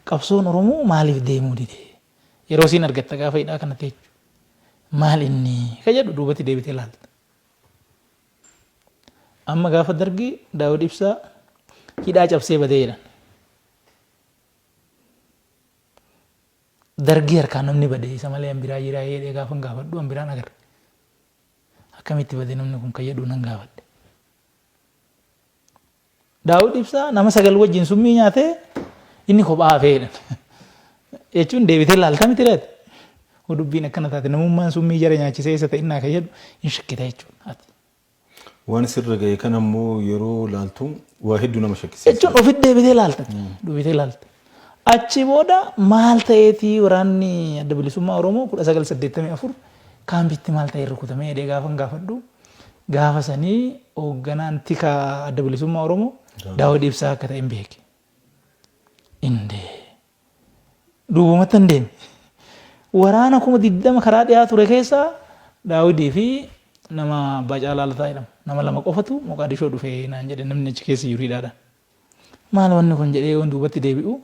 Qabsoon Oromoo maaliif deemuu dide? Yeroo isiin argatta gaafa hidhaa kana teechu. Maal inni? Ka jedhu duubatti deebitee ilaalta. Amma gaafa Dargii Daawud Ibsaa hidhaa cabsee badee jedhan. Dargii harkaan namni badee isa malee an biraa jiraa jedhee gaafa hin gaafadhu an biraan agarre. Akkamitti badee namni kun ka jedhu nan gaafadhe. Daawud Ibsaa nama sagal wajjin summii nyaatee inni kophaa hafee jedhan. Jechuun deebitee laalta miti laata? Hoo dubbiin akkana taate namummaan summii jara nyaachisee eessa ta'e innaa kan jedhu hin shakkita jechuudha ati. Waan sirra ga'e kan ammoo yeroo laaltu waa hedduu nama shakkisiisa. Jechuun ofitti deebitee laalta. Deebitee laalta. Achi booda maal ta'eeti waraanni Adda Bilisummaa Oromoo 1984 kaampiitti maal ta'een rukutame jedhee gaafan gaafadhu gaafa sanii hoogganaan tika Adda Bilisummaa Oromoo Daawud Ibsaa akka ta'een beeke. Indee duubumatti hin deeme. Waraana kuma 20 karaa dhiyaa ture keessaa Daawudii fi nama Abbaa Caalaa Lataa jedhamu nama lama qofatu Moqaadishoo dhufee naan jedhe namni achi keessa jiru hidhaadhaan. Maal wanni kun jedhee yoon duubatti deebi'u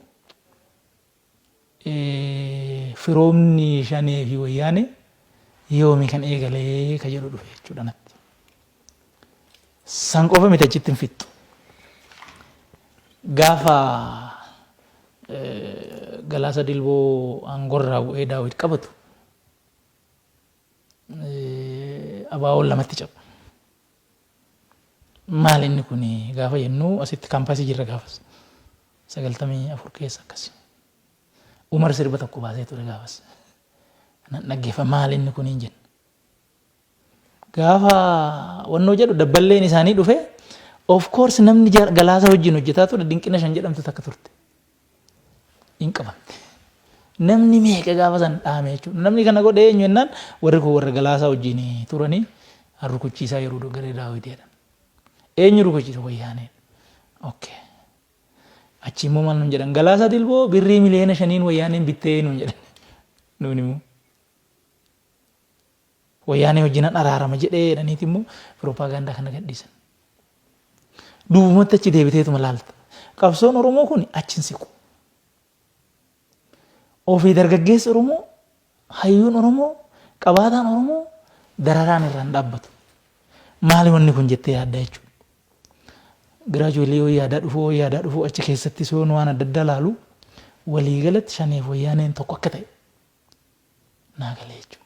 firoomni shanee fi wayyaane yoomi kan eegalee ka jedhu dhufe jechuudha natti. San qofa miti achitti hin fixxu. Gaafa galaasa dilboo aangorraa bu'ee daawwit qabatu abaawoon lamatti cabu. Maali inni kuni gaafa jennu asitti kaampaasii jirra gaafas. Sagaltamii afur keessa akkasi. Umar sirba tokko baasee ture gaafas. Nan dhaggeeffa maali inni kuni hin jenna. Gaafa wannoo jedhu dabballeen isaanii dhufe of course namni galaasa wajjin hojjetaa ture dinqina shan jedhamtu takka turte. hin qabamne. Namni meeqa gaafa san dhaame jechuudha. Namni kana godhe eenyu jennaan warri kun warra galaasaa wajjin turanii rukuchiisaa yeroo doggaree daawwiti jedhan. Eenyu rukuchiisa wayyaanee. Okay. Achi immoo maal nuun jedhan galaasaa dilboo birrii miliyoona shaniin wayyaaneen bittee nuun jedhan. Nuun immoo. Wayyaanee wajjin nan araarama jedhee jedhaniiti immoo piropaagaandaa kana gadhiisan. Duubumatti achi deebiteetuma laalta. Qabsoon Oromoo kun achi hin siqu. Ofii dargaggeessi Oromoo, hayyuun Oromoo, qabaataan Oromoo dararaan irraa hin dhaabbatu. Maali wanni kun jettee yaadda jechuudha. Gradually wayya aadaa dhufuu wayya aadaa dhufuu achi keessatti soon waan adda addaa laalu walii galatti shaneef wayyaaneen tokko akka ta'e naa galee jechuudha.